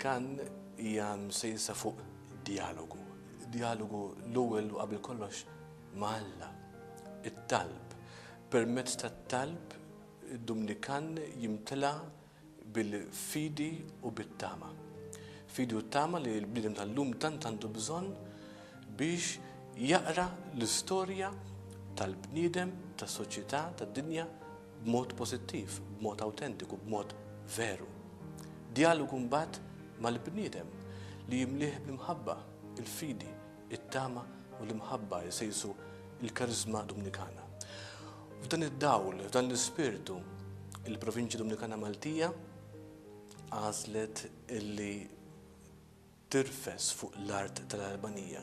Kan hija msejsa fuq dialogu. Dialogu l-ewwel u qabel kollox ma' Alla. It-talb. Permezz tat-talb Dumnikan jimtla bil-fidi u bit-tama. Fidi u t-tama li l-bniedem tal-lum tant għandu bżonn biex jaqra l-istorja tal-bniedem, tas-soċjetà, tad-dinja b'mod pożittiv, b'mod awtentiku, b'mod veru. Djalogu mbagħad mal-bniedem li jimlieh bl-imħabba, il-fidi, it-tama u l-imħabba jsejsu l-kariżma Dumnikana. F'dan id-dawl, f'dan l-ispirtu, il-Provinċja Dumnikana Maltija għażlet illi tirfes fuq l-art tal-Albanija.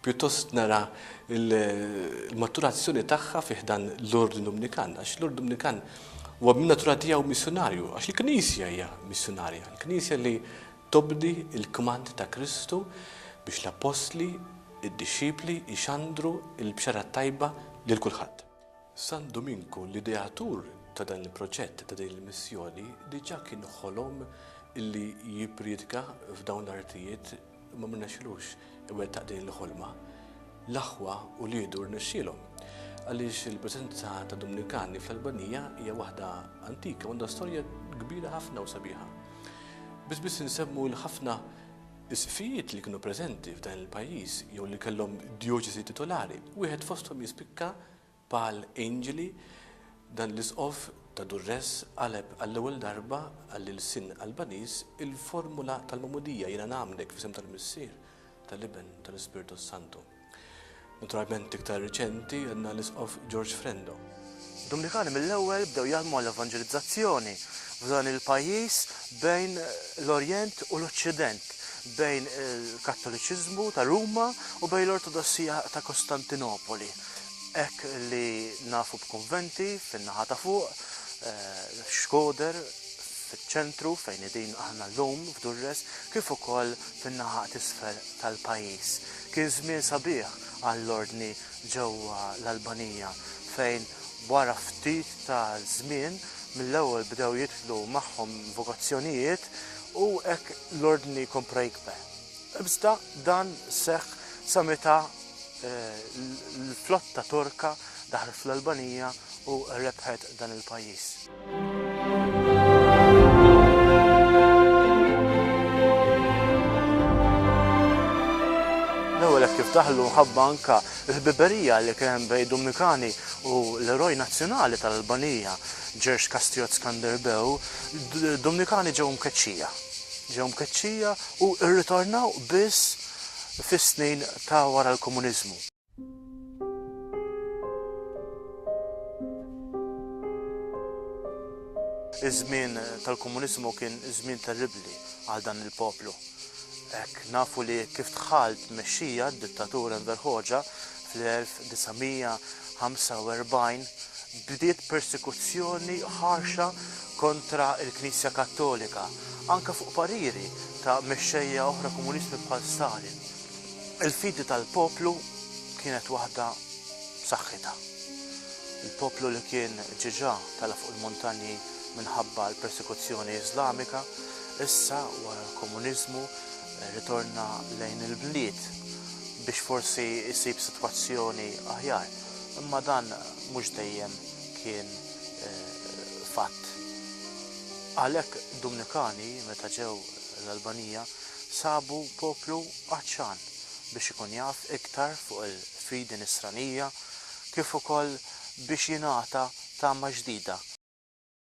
pjuttost nara l-maturazzjoni tagħha fi ħdan l-Ordni Dominikan, għax l-Ordni Dominikan huwa min-natura tiegħu missjunarju, għax il-Knisja hija missjunarja, il-Knisja li tobdi l-kmand ta' Kristu biex l-Appostli, id-dixxipli jxandru l-Bxara t-Tajba lil kulħadd. San Duminku, l-ideatur ta' dan il-proġett ta' din il-missjoni, diġà kien ħolom li jippriedka f'dawn l-artijiet Imma ma rnexxilux iwettaq din il-ħolma. L-aħwa uliedu rnexxielhom. Għaliex il-preżenza ta' Dominikani fl-Albanija hija waħda antika u għandha storja kbira ħafna u sabiħa. Biss biss insemmu l-ħafna isqfijiet li kienu preżenti f'dan il-pajjiż jew li kellhom djoċesi titolari, wieħed fosthom jispikka Paul Angeli, Dan l-Isqof ta' Durrës qaleb għall-ewwel darba għall-ilsien Albaniż il-formula tal-magħmudija, Jiena ngħammdek fl-isem tal-Missier, tal-Iben, u tal-Ispirtu s-Santu. Naturalment iktar riċenti għandna l-Isqof George Frendo. Dominikani mill-ewwel bdew jaħdmu għall-evanġelizzazzjoni f'dan il-pajjiż bejn l-Orjent u l-Oċċident, bejn il-Kattoliċiżmu ta' Ruma u bejn l-Ortodossija ta' Kostantinopoli. hekk li nafu b'kunventi fin-naħa ta' fuq, Xkoder eh, fiċ-ċentru fejn qegħdin aħna llum f'Durres kif ukoll fin-naħa t'isfel tal-pajjiż. Kien żmien sabiħ għall-ordni ġewwa l-Albanija fejn wara ftit ta' żmien mill-ewwel bdew jidħlu magħhom vokazzjonijiet u hekk l-ordni kompra jikber. Iżda dan seħħ sa meta l-flotta Torka daħlet fl-Albanija u rebħet dan il-pajjiż. kif daħlu mħabba anka l-ħbiberija li kien hemm bejn Dumikani u l-eroj nazzjonali tal-Albanija, Ġerx Kastriot Skanderbeu, Dumikani ġew mkeċċija. Ġew mkeċċija u rritornaw biss fis-snin ta' wara l-komuniżmu. Iż-żmien tal-komuniżmu kien żmien terribbli għal dan il-poplu. Hekk nafu li kif dħalt tmexxija d-dittatur Enver Hoxha Fl-1945 bdiet persekuzzjoni ħarxa kontra l-Knisja Kattolika, anke fuq pariri ta' mexxejja oħra komunisti bħal Stalin. Il-fidi tal-poplu kienet waħda b'saħħitha. Il-poplu li kien ġiġa tala' fuq il-muntanji minħabba l-persekuzzjoni Iżlamika, issa wara l-komuniżmu Rritorna lejn il-bliet biex forsi ssib sitwazzjoni aħjar, imma dan mhux dejjem kien fatt. Għalhekk Dumnikani meta ġew l-Albanija sabu poplu għatxan biex ikun jaf iktar fuq il-fidi nisranija kif ukoll biex jingħata tama ġdida.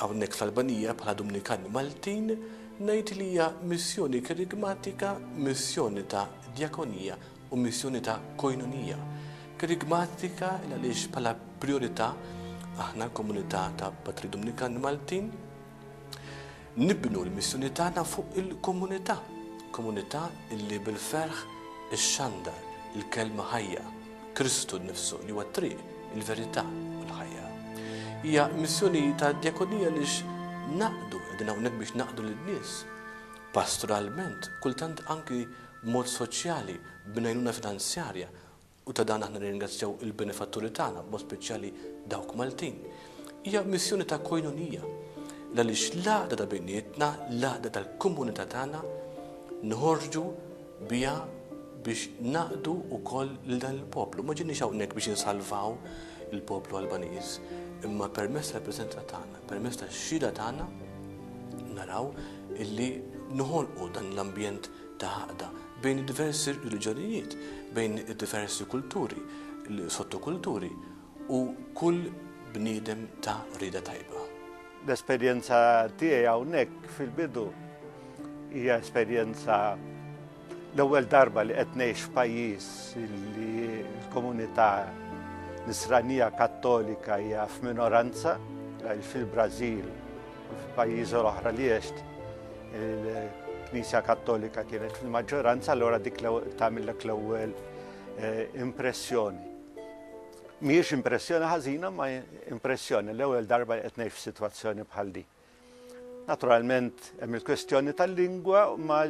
Hawnhekk fl-Albanija bħala Dumnikan Maltin ngħid li hija missjoni kerigmatika, missjoni ta' djakonija u missjoni ta' koinonija. Kerigmatika il għaliex bħala prijorità aħna komunità ta' Patri Dumnikan Maltin nibnu l-missjoni tagħna fuq il-komunità, komunità illi bil-ferħ ixxandar il-kelma ħajja. Kristu nnifsu li huwa t-triq, il-verità u l-ħajja. Hija missjoni ta' djakonija li naqdu, qegħdin hawnhekk biex naqdu lin-nies. Pastoralment, kultant anki b'mod soċjali, b'ngħajnuna finanzjarja, u ta' dan aħna nirringrazzjaw il-benefatturi tagħna, b'mod speċjali dawk Maltin. Hija missjoni ta' koinonija, l-għaliex l-għaqda ta' bejnietna, l-għaqda tal-komunità tagħna, nħorġu biha biex naqdu wkoll lil dan il-poplu. Ma ġejniex hawnhekk biex insalvaw il-poplu Albaniż, imma permezz tal-preżenza tagħna, permezz tax-xhieda tagħna, naraw illi noħolqu dan l-ambjent ta' għaqda bejn diversi reliġjonijiet, bejn diversi kulturi, sottokulturi. u kull bniedem ta' rieda tajba. L-esperjenza tiegħi hawnhekk fil-bidu hija esperjenza l-ewwel darba li qed ngħix f'pajjiż li l-komunità nisranija kattolika hija f'minoranza fil-Brażil u f'pajjiżi oħra li għext il-Knisja Kattolika kienet fil-maġġoranza allura dik tagħmilek l-ewwel eh, impressjoni. Mhijiex impressjoni ħażina ma impressjoni l-ewwel darba qed ngħix f'sitwazzjoni bħal di. Naturalment hemm il-kwestjoni tal-lingwa ma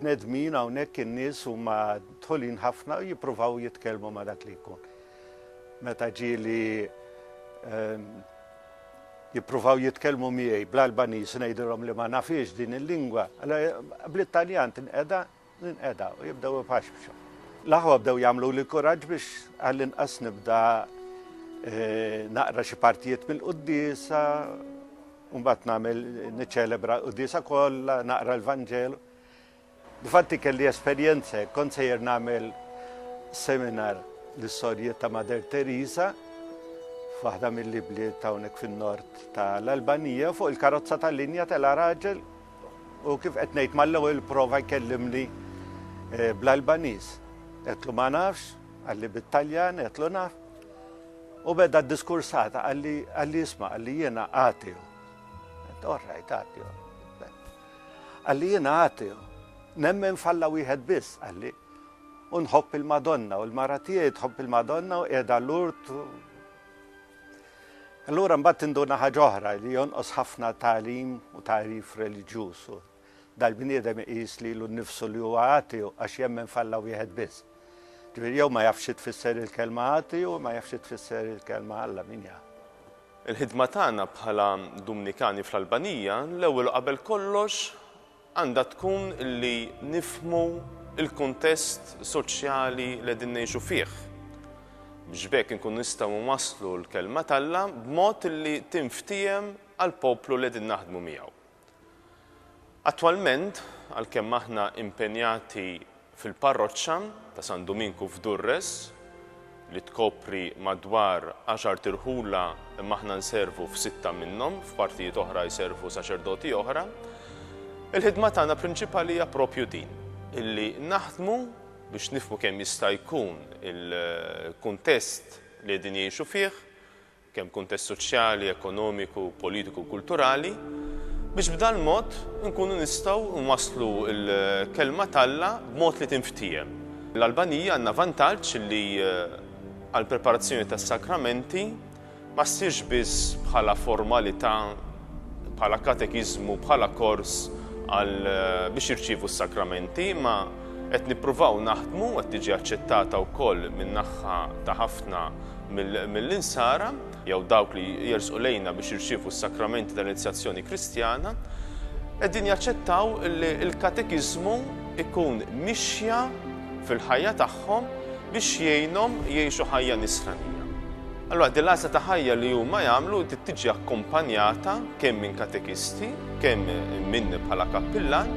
bnedmin hawnhekk in-nies huma dħulin ħafna u jippruvaw jitkellmu ma dak li jkun. Meta ġieli ehm, jippruvaw jitkellmu miegħi bl-Albaniż ngħidilhom li ma nafiex din il-lingwa, bl-Italjan tinqeda Ninqeda u jibdew ipaxpxu. L-aħwa bdew jagħmluli kuraġġ biex għall-inqas nibda naqra xi partijiet mill-quddiesa, mbagħad nagħmel niċċelebra l-quddiesa kollha, naqra l-Vanġelu. Difatti kelli esperjenza, kont sejjer nagħmel seminar l-istorjiet ta' Mader Teresa f'waħda mill-ibliet hawnhekk fin-nord tal-Albanija fuq il-karozza tal-linja tal-araġel U kif qed ngħid mal-ewwel prova jkellimni eh, bl-Albaniż. Qedlu ma nafx, għalli bit-Taljan, qedlu naf. U beda diskursata għalli għalli jisma' għalli jiena għatiju. Orrajt għatiju. Għalli jiena għatiju. Nemmen falla wieħed biss għalli. Unħobb il-Madonna u l-mara tiegħi tħobb il-Madonna u qiegħda l-urt Allura mbagħad tinduna ħaġa oħra li jonqos ħafna tagħlim u tagħrif reliġjuż u dal-bniedem iqis lilu nnifsu li huwa ateu għax jemmen f'Alla wieħed biss. Ġifieri jew ma jafx xi tfisser il-kelma ateu u ma jafx xi tfisser il-kelma Alla min jaf. Il-ħidma tagħna bħala Dumnikani fl-Albanija l-ewwel u qabel kollox għandha tkun li nifhmu l-kuntest soċjali li qegħdin ngħixu fih, biex b'hekk inkunu nistgħu nwasslu l-Kelma t'Alla b'mod li tinftiehem għall-poplu li qegħdin naħdmu miegħu. Attwalment, għalkemm aħna impenjati Fil-parroċċa ta' San Duminku f'Durres, li tkopri madwar għaxart irħula imma aħna nservu f'sitta minnhom, f'partijiet oħra jservu saċerdoti oħra, il-ħidma tagħna prinċipali hija proprju din, illi naħdmu biex nifhmu kemm jista' jkun il-kuntest li qegħdin jgħixu fih, kemm kuntest soċjali, ekonomiku, politiku u kulturali, biex b'dan mod inkunu nistgħu nwasslu l-Kelma t'Alla b'mod li tinftiehem. L-Albanija għandna vantaġġ li għall-preparazzjoni tas-Sakramenti ma ssirx biss bħala formalità, bħala katekiżmu, bħala kors għal biex jirċievu s-Sakramenti, imma, Qed nippruvaw naħdmu, qed tiġi aċċettata wkoll min-naħħa ta' ħafna mill-Insara, jew dawk li jersqu lejna biex jirċievu s-sakramenti tal-inizjazzjoni Kristjana, qegħdin jaċċettaw li l-katekiżmu jkun mixja fil-ħajja tagħhom biex jgħinhom jgħixu ħajja nisranija. Allura din l-għażla ta' ħajja li huma jagħmlu trid tiġi akkumpanjata kemm minn katekisti, kemm minni bħala kappillan,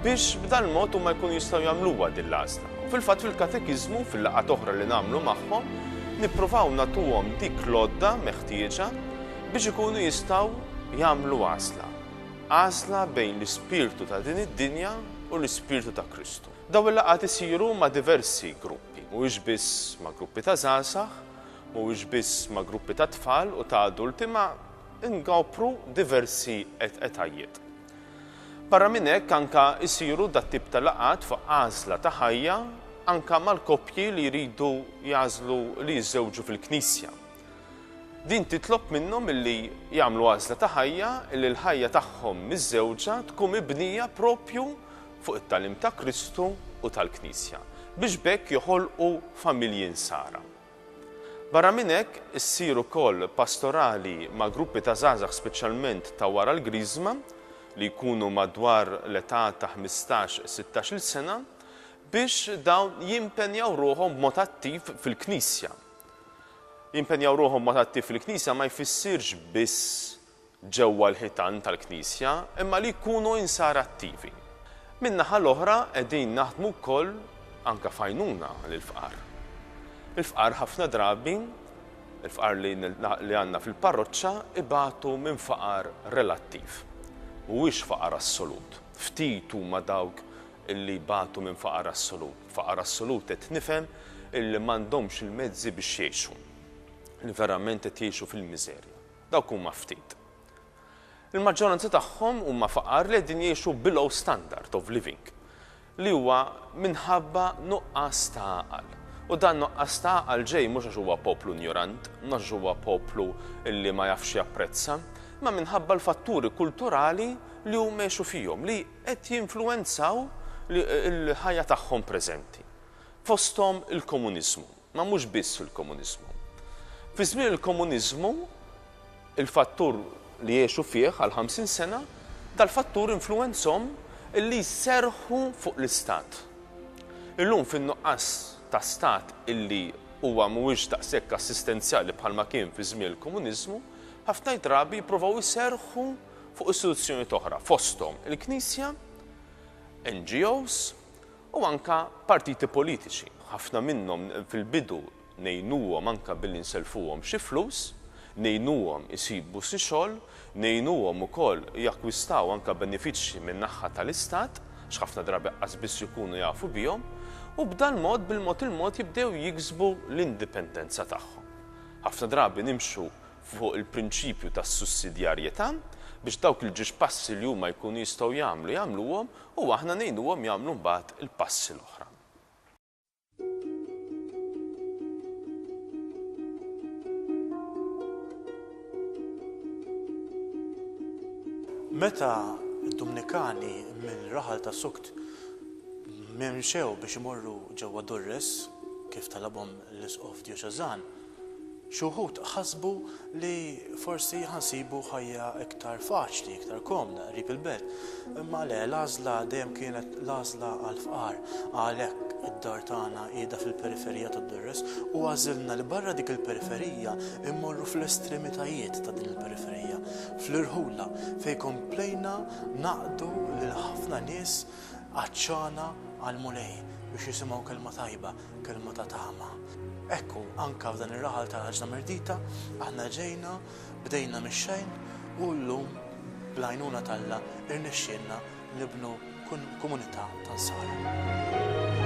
biex b'dan mod huma jkunu jistgħu jagħmluha din l-għażla. U fil-fatt fil-katekiżmu, fil-laqgħat oħra li nagħmlu magħhom, nippruvaw nagħtuhom dik l-għodda meħtieġa biex ikunu jistgħu jagħmlu għażla. Għażla bejn l-ispirtu ta' din id-dinja u l-ispirtu ta' Kristu. Daw il-laqgħat isiru ma' diversi gruppi, mhuwiex biss ma' gruppi ta' żgħażagħ, mhuwiex biss ma' gruppi ta' tfal u ta' adulti, ma' inkopru diversi etajiet. Barra minn hekk anke jsiru dat-tip ta' laqgħat fuq għażla ta' ħajja anke mal-koppji li jridu jagħżlu li jiżżewġu fil-Knisja. Din titlob minnhom illi jagħmlu għażla ta' ħajja illi l-ħajja tagħhom miżżewġa tkun mibnija proprju fuq it-tagħlim ta' Kristu u tal-Knisja biex b'hekk joħolqu familji nsara. Barra minn hekk, issir ukoll pastorali ma' gruppi ta' żgħażagħ speċjalment ta' wara l-Griżma, li jkunu madwar l-età ta' ħmistax, sittax-il sena, biex dawn jimpenjaw ruħhom b'mod attiv fil-Knisja. Jimpenjaw ruħhom b'mod attiv fil-Knisja ma jfissirx biss ġewwa l-ħitan tal-Knisja imma li jkunu Insara attivi. Min-naħa l-oħra qegħdin naħdmu wkoll anke f'għajnuna lill-fqar. Il-fqar ħafna drabi, il-fqar li li għandna fil-parroċċa ibatu minn faqar relattiv. Mhuwiex faqar assolut. Ftit huma dawk illi jbatu minn faqar assolut. Faqar assolut qed nifhem illi m'għandhomx il-mezzi biex jgħixu. Li verament qed jgħixu fil-miżerja. Dawk huma ftit. Il-maġġoranza tagħhom huma faqar li qegħdin jgħixu below standard of living li huwa minħabba nuqqas ta' għaqal. U dan nuqqas ta' għaqal ġej mhux għax huwa poplu injorant, mhux għax huwa poplu li ma jafx japprezza, imma minħabba l-fatturi kulturali li huma jgħixu fihom li qed jinfluwenzaw il-ħajja tagħhom preżenti. Fosthom il-komuniżmu. Ma mhux biss fil-komuniżmu. Fi żmien il-komuniżmu, il-fattur li għexu fih għal ħamsin sena, dal-fattur influwenzhom illi jserrħu fuq l-istat. Illum fin-nuqqas ta' stat illi huwa mhuwiex daqshekk assistenzjali bħalma kien fi żmien il-komuniżmu, ħafna drabi jippruvaw iserrħu fuq istituzzjonijiet oħra, fosthom il-Knisja, NGOs, u anke partiti politiċi, ħafna minnhom fil-bidu ngħinuhom anke billi nselfuhom xi flus, ngħinuhom isibu xi xogħol, ngħinuhom ukoll jakkwistaw anke benefiċċji min-naħa tal-Istat, għax ħafna drabi qas biss ikunu jafu bihom, u b'dal-mod bil-mod il-mod jibdew jiksbu l-indipendenza tagħhom. Ħafna drabi nimxu fuq il-prinċipju tas-sussidjarjetà biex dawk il-ġiex passi li huma jkunu jistgħu jagħmlu jagħmluhom u aħna ngħinuhom jagħmlu mbagħad il-passi l-oħra. Meta d-Dumnikani minn raħal ta' Sukt memxew biex imorru ġewwa Durres, kif talabhom l-Isqof Djoċeżan, Xi wħud ħasbu li forsi ħa nsibu ħajja iktar faċli, iktar komda, qrib il-belt. Imma le, l-għażla dejjem kienet l-għażla għall-fqar. Għalhekk id-dar tagħna qiegħda fil-periferija ta' Durres u għażilna li barra dik il-periferija mmorru fl-estremitajiet ta' din il-periferija, fl-irħula, fejn komplejna ngħaqqdu lil ħafna nies għatxana għall-Mulej biex jisimgħu kelma tajba. Kelma ta' tama. Ekku, anka f'dan ir-raħal ta' raġna mirdita, aħna ġejna, bdejna mix-xejn u llum bl-għajnuna t'Alla irnexxielna nibnu komunità ta' Nsara.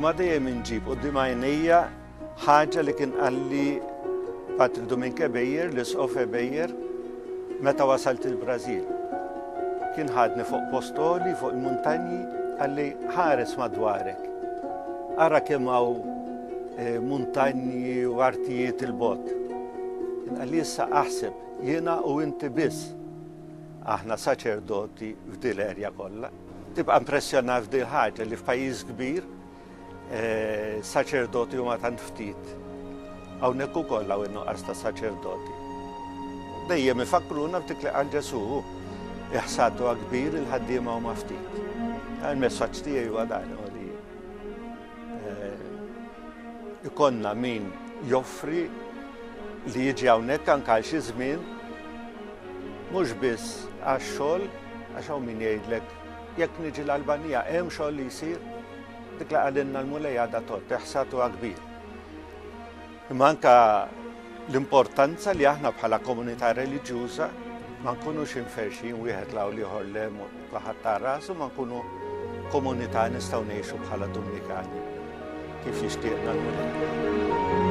Imma dejjem inġib quddiem għajnejja ħaġa li kien qalli Patri Dominke Bejjer, l-Isqof Bejjer, meta wasalt il-Brażil. Kien ħadni fuq postoli, fuq il-muntanji, għalli ħares madwarek. Ara kemm hawn eh, muntanji u artijiet il-bot. Kien għalli issa aħseb jiena u inti biss. Aħna saċerdoti f'dil erja kollha. Tibqa' impressjonat f'dil ħaġa li f'pajjiż kbir eh, saċerdoti huma tant ftit. Hawnhekk ukoll hawn in-nuqqas ta' saċerdoti. Dejjem ifakkruna f'dik li qal Ġesu iħsatu kbir il-ħaddiema huma ftit. Il-messaġġ tiegħi huwa dan Ikonna min joffri li jiġi hawnhekk anke għal xi żmien mhux biss għax-xogħol għax hawn min jgħidlek jekk niġi l-Albanija hemm xogħol li jsir dik li qalilna l-Mulej għadha tot, iħsad huwa kbir. Imma anke l-importanza li aħna bħala komunità reliġjuża ma nkunux inferxin wieħed law liħor lem kulħadd ta' rasu ma nkunu komunità nistgħu ngħixu bħala Dominikani kif jixtieqna l-Mulej.